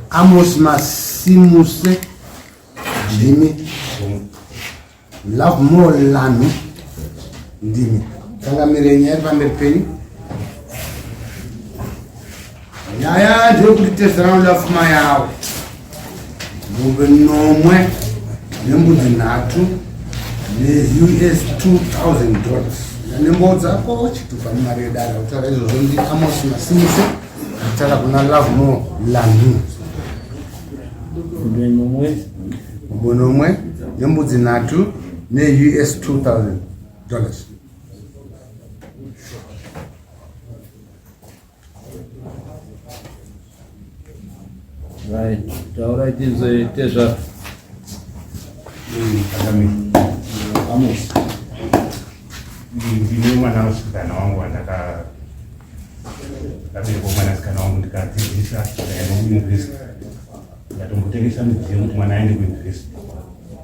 Amos Masimuse ndimi love more lanu ndimi tangamirenyi ari pamberi penyu nyaya ndeyekuti tese vanoda pfuma yavo mombe nomwe nembudzi nhatu neus 2000 dollars nembo dzako chitupa nemari yedara kutaura izvozvo ndi amos masimuse kutaura kuna love more lanu mombe nomwe nembudzi nhatu neus 2000 dollars Right. Taurai tinzwe tezvaro. Amos. Ndine mwana musikana wangu wandaka ndabereka mwana sikana wangu ndikadzidzisa ndaenda kuuniversity. Ndatombotengesa midziyo kuti mwana aende kuuniversity.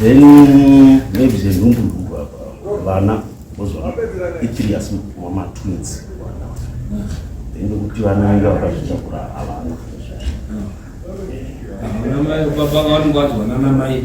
then maybe zvenhumbu vana vozova itiri asi mamatwins then nekuti vana vanga vakazvitakura havana baba vanongovadziwanana mai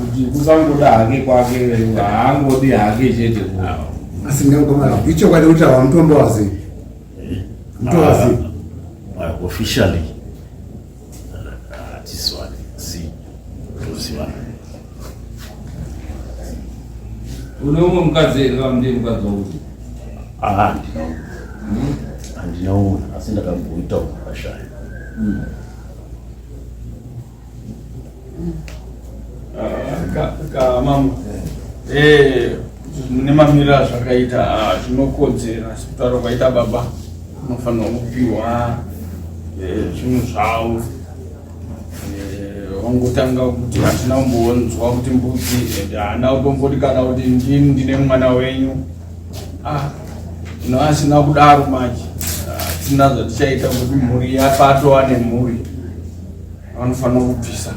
kuti kusangoda hake kwake haangodi hake chete asi ndingakomana ichokwadi kuti awa mutombo wazi mutombo wazi officially hatiswani si tozivana Unoumwe mukadzi here kana ndiye mukadzi wangu? Ah, handina umwe. Hmm? Handina umwe asi ndakamboita umwe akashaya. Hmm. Ah, mama eh, mune mamiro azvakaita ah, zvinokodzera sikutaura kwaita baba unofanirwa kupiwa eh, zvinhu zvavo wangotanga eh, kuti hatina kumbonzwa kuti mbudzi and haana kutomboti kana kuti ndini ndine mwana wenyu ah, no asina kudaro manje hatina ah, zvatichaita kuti mhuri yapato ane mhuri vanofanira kubvisa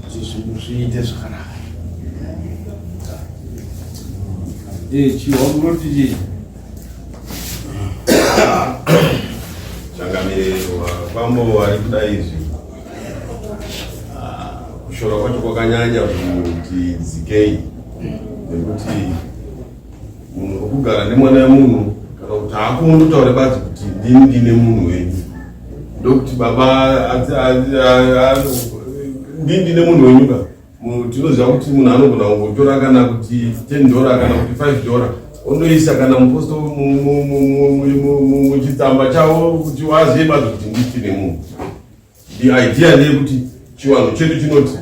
kuti zvinhu zviite zvakanaka eh, chiwa kunoti chii changamiriro kwambo ari kuda izvi ah, kushora kwacho kwakanyanya kuti dzikei nekuti munhu okugara nemwana wemunhu kana kuti haakungonotaure badzi kuti ndini ndine munhu wenyu ndokuti baba ndini ndine munhu wenyu ka Tinoziva kuti munhu anogona kungotora kana kuti 10 dora kana kuti 5 dora ondoisa kana muposto muchitsamba chavo kuti wazive bazi kuti nditi nemunhu. The idea ndeyekuti chiwanhu chedu chinoti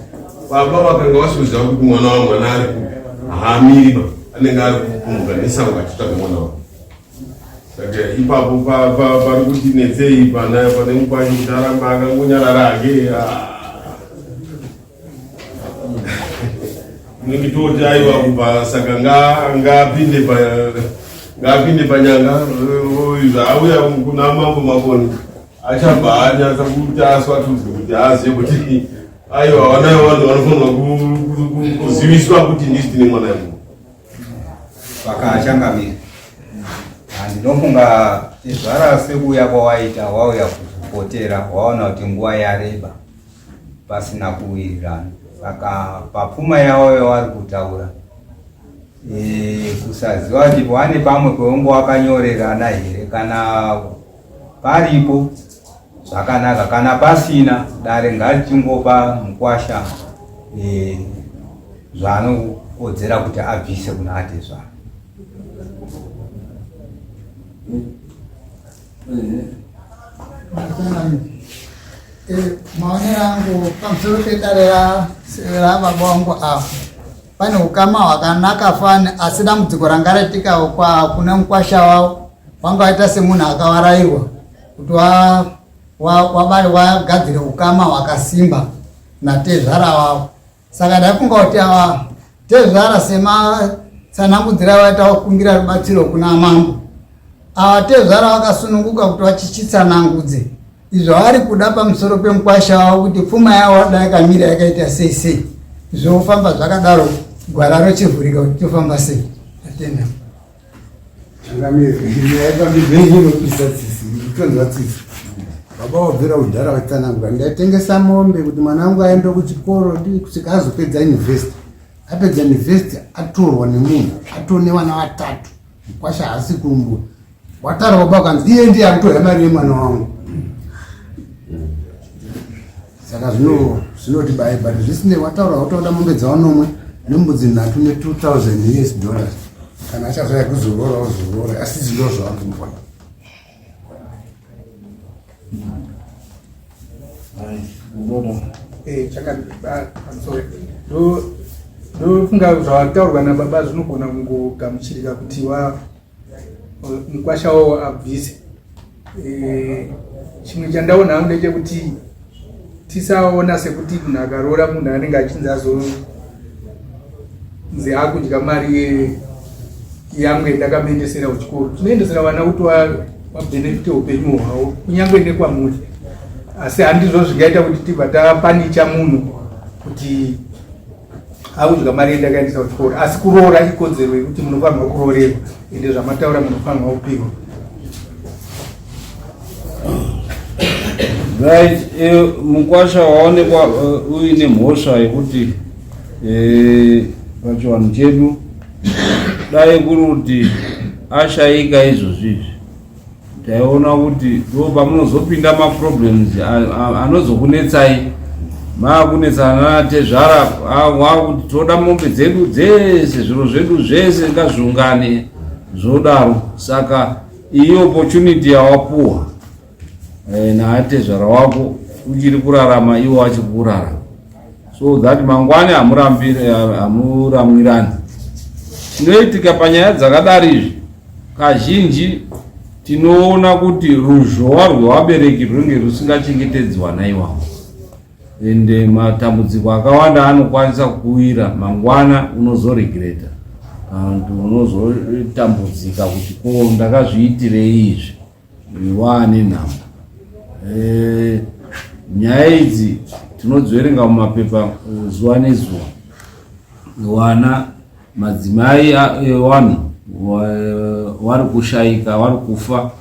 baba vakanga vasiuziva kuti mwana wamwana ari kupi haamiriba anenge ari kumuka nesango achitsvaga mwana wavo Saka ipapo pari kuti netsei pana pane mukwanyi ndaramba akangonyarara hake nekitoti ah. aiwa kubva saka ngaapinde ngaapinde panyanga zvaauya kuna mambo makoni achabva anyatsa kuti aswatudzwe kuti azive kuti aiwa vanayo vanhu vanofanirwa kuziviswa kuti ndisi tine mwana yamuu vakachangamira handinofunga tezvara sekuuya kwawaita wauya kukupotera waona kuti nguva yareba pasina kuwirirana saka papfuma yavo yavari kutaura e, kusaziva kuti pane pamwe kweungo wakanyorerana here kana paripo zvakanaka kana pasina dare ngarichingopa mukwasha e, zvaanokodzera kuti abvise kuna atezvara e, maonero angu pamusoro pedare rababa wangu apo pane ukama hwakanaka fani asi dambudziko ranga raitika kune mukwasha wavo wanga waita semunhu akavarayirwa kuti wabari wagadzire ukama hwakasimba natezvara wavo saka ndaifunga kuti ava tezvara sematsanangudzira vaita vakumbira rubatsiro kuna mambo ava tezvara vakasununguka kuti vachitsanangudze zvavari kuda pamusoro pemukwasha wavo kuti pfuma yavo vada yakamira yakaita sei sei zvofamba zvakadaro gwara rochivhurika kuti tofamba sei atenda baba wabvira kudhara vatsanangura ndaitengesa mombe kuti mwana wangu aende kuchikoro ndi kusvika azopedza university apedza university atorwa nemunhu atone vana vatatu Mkwasha haasi kumbo wataura baba ukanzi iye ndiye akutorya mari yemwana wangu saka zvino zvinoti baye but zvisinei wataura watoda mombe dzaonomwe nembudzi nhatu ne 2000 us dollars kana achazvaya kuzorora ozorora asi zvindo zvawakumbona Eh, ndofunga zvataurwa nababa zvinogona kungogamuchirika kuti wa mukwasha wawo abvise eh, chimwe chandaona hangu ndechekuti tisaona sekuti munhu akaroora munhu anenge achinzi azonzi akudya mari yangu yendakamuendesera kuchikoro tinoendesera vana kuti vabenefite upenyu hwavo kunyange nekwamuri asi handizvo zvingaita kuti tibva tapanicha munhu kuti akudya mari yendakaendesa kuchikoro asi kuroora ikodzero yekuti munofanirwa kuroorerwa ende zvamataura munofanirwa kupihwa right eh, mukwasha waonekwa eh, uine mhosva yekuti eh, pachivanhu chedu dai kuri kuti ashaika izvozvizvi taiona kuti ndo pamunozopinda maproblems anozokunetsai maakunetsana natezvara wakuti toda mombe dzedu dzese zviro zvedu zvese ngazviungane zvodaro saka Iyi opportunity yawapuwa eh, naatezvara wako uchiri kurarama iwo achiri kurarama so that mangwani hamuramwirani chinoitika panyaya dzakadari izvi kazhinji tinoona kuti ruzhowa rwevabereki rwunge rusingachengetedzwa naiwawo ende matambudziko akawanda anokwanisa kuwira mangwana unozoregreta and unozotambudzika kuti ko ndakazviitirei izvi waane nhamo eh, nyaya idzi tinodziverenga mumapepa eh, zuva nezuva wana madzimai ewanhu eh, wari kushaika wari kufa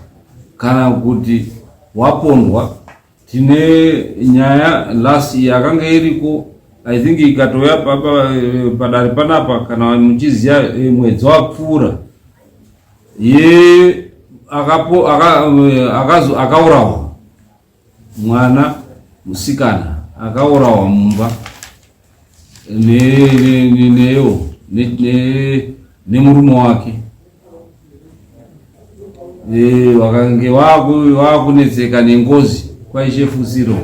kana kuti wapondwa tine nyaya last year yakanga iriko i think ikatouya padare panapa kana muchiziva eh, mwedzi wapfuura ye akapo eh, akazo akaurawa mwana musikana akaurawa mumba neyo nemurume wake eh, vakange vakunetseka nengozi kwaishefusiro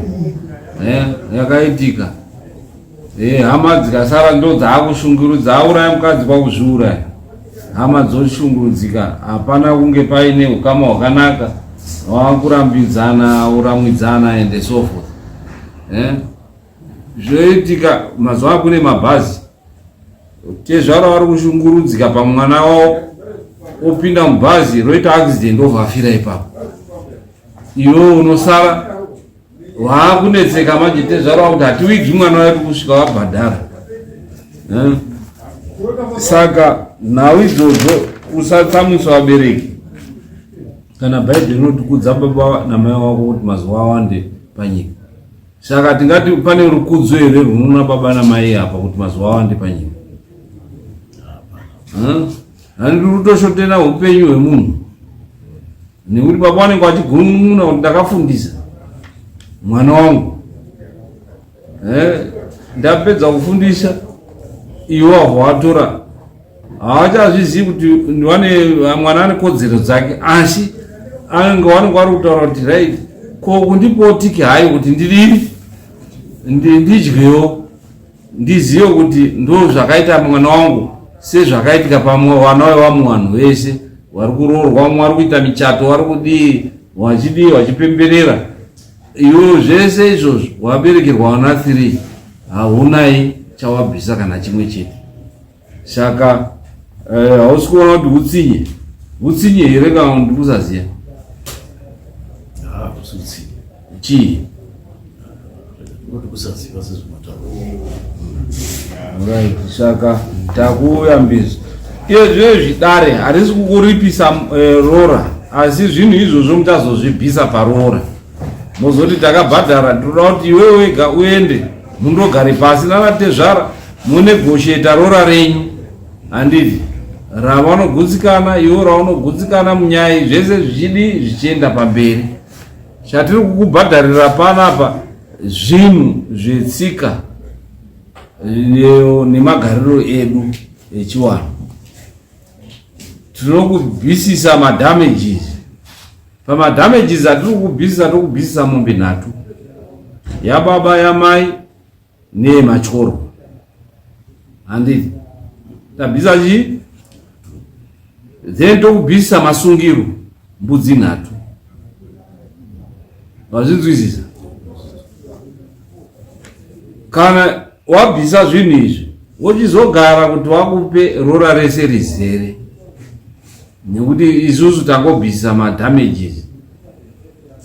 eh, yakaitika eh, hama dzikasara ndo dzaakushungurudza auraya mukadzi kwakuzviuraya hama dzoshungurudzika hapana kunge paine ukama hwakanaka wakurambidzana uramwidzana and so forth eh? Zvoitika mazuva kune mabhazi tezvara vari kushungurudzika pamwana wavo opinda mubhazi roita accident ovafira ipapo iwe unosara waakunetseka manje tezvara wakuti hatiwigi mwana wedu kusvika wabhadhara eh? saka nhau idzodzo usatsamwisa vabereki kana bhaibheri rinotikudza baba namai wako kuti mazuva awande panyika Saka tingati pane rukudzo here rwunoona baba namai apa kuti mazuva awande panyika? Handiri kutoshotera upenyu hwemunhu nekuti baba vanenge vachigunun'una kuti ndakafundisa mwana wangu eh, ndapedza kufundisa iwo avo watora havachazvizivi kuti vane mwana ane kodzero dzake asi anenge vanenge vari kutaura kuti right ko kundipotiki hayi kuti ndidii ndidyewo ndizive kuti ndo zvakaita mwana wangu sezvakaitika pamwe vana vevamwe vanhu vese vari kuroorwa vamwe vari kuita michato vari kudii vachidii vachipemberera iwo zvese izvozvo waberekerwa vana three haunai chawabvisa kana chimwe chete saka eh, hausi uh, kuona kuti utsinye utsinye here kana kuti kusaziva ah, chii right saka takuuya mbizi izve zvidare harisi kukuripisa eh, rora asi zvinhu izvozvo muchazozvibvisa parora mozoti takabhadhara tinoda kuti iwe wega uende mundogare pasi nanatezvara Munegosheta rora renyu handiti ravanogutsikana iwo raunogutsikana munyaya zvese zvichidi zvichienda pamberi chatiri kukubhadharira panapa zvinhu zvetsika nemagariro edu echiwanhu tinokubvisisa madamages pamadamages atiri kukubvisisa tokubvisisa mombe nhatu yababa yamai Nee machoro. Handi tabisa chi? Then tokubisa masungiro mbudzi nhatu. Vazvinzwisisa? Kana wabvisa zvinhu izvi wochizogara kuti wakupe rora rese rizere nekuti isusu tangobvisa madamages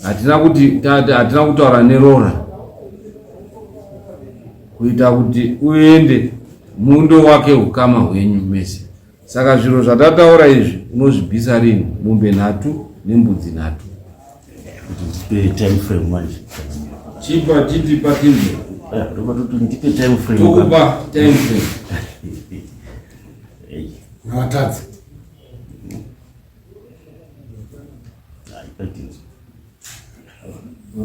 hatina kuti hatina kutaura neroora kuita kuti uende mundo wake ukama hwenyu mese saka zviro zvatataura izvi unozvibvisa rini mombe nhatu nembudzi nhatu ndipe time frame manje chipa chitipa timbe eh, ndoba toti ndipe time frame tokupa time frame hey. nawatadzi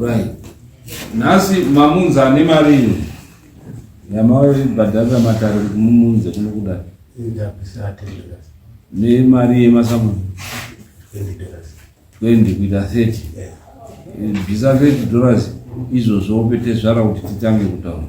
Right. Nhasi mamunza ane mari ino yamaibhadharira matare kuti mumunze kuno kudai nemari yemasamuni 20 kuita 30 bvisa 30 dollars izvozvo upete zvara kuti titange kutaura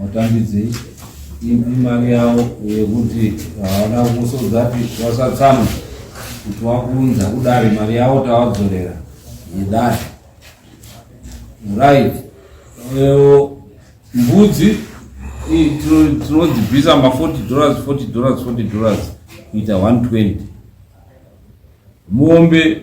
Hautambidzei imari yavo yekuti havana kusodza kuti wasatsamwa kuti wakunza kudari mari yavo tawadzorera yedari right mbudzi tinodzibvisa ma 40 dollars 40 dollars 40 dollars kuita 120 mombe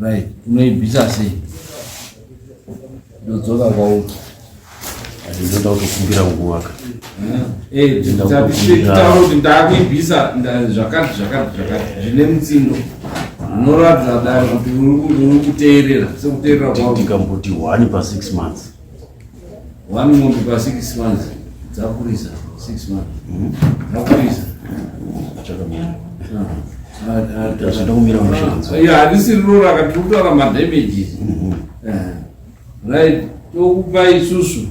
Right, unoibvisa sei? Ndodzoka kwauri. Ndinoda kutokumbira nguva ka. Eh, ndakutaura kuti ndakuibvisa zvakati zvakati zvakati zvine mutsindo. Unoratidza daro kuti uri kuteerera sekuteerera kwako. Ndikamboti wani pa 6 months. One month pa six months dzakurisa six months mm-hmm. dzakurisa chakamira zvandakumira mushanzo ya hadisi riro rakati kutaura madamages mm-hmm. eh, right tokupa isusu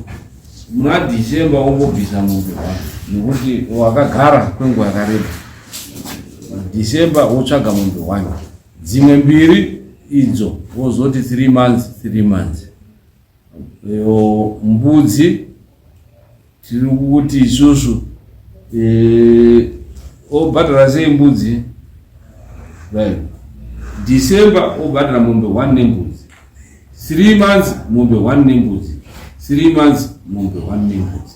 muna december wongobvisa mombe wako nekuti wakagara kwenguva yakareba december wotsvaga mombe wani dzimwe mbiri idzo wozoti three months three months mbudzi tiri kuti isusu eh, obhadhara sei mbudzi right december obhadhara mombe one nembudzi three months mombe one nembudzi three months mombe one nembudzi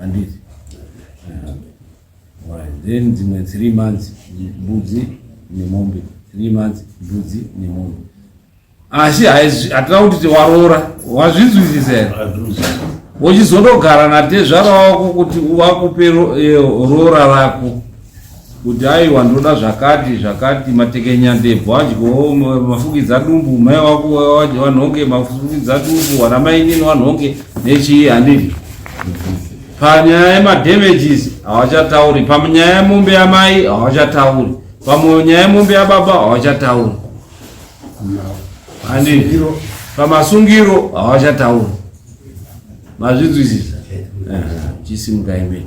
Handiti. Right. Then dzimwe three months mbudzi nemombe three months mbudzi nemombe asi hatina kuti waroora wazvinzwisisa here wochizondogara natezvara wako kuti wakupe eh, roora rako kuti aiwa ndoda zvakati zvakati matekenya ndebvu adyo mafukidza dumbu mai wako wanhonge mafukidza dumbu wana mainini wanhonge nechii handidi panyaya yemadamages hawachatauri panyaya yemombe yamai hawachatauri panyaya yemombe yababa hawachatauri handidi pamasungiro hawachatauri mazvinzwisisa chisimuka imene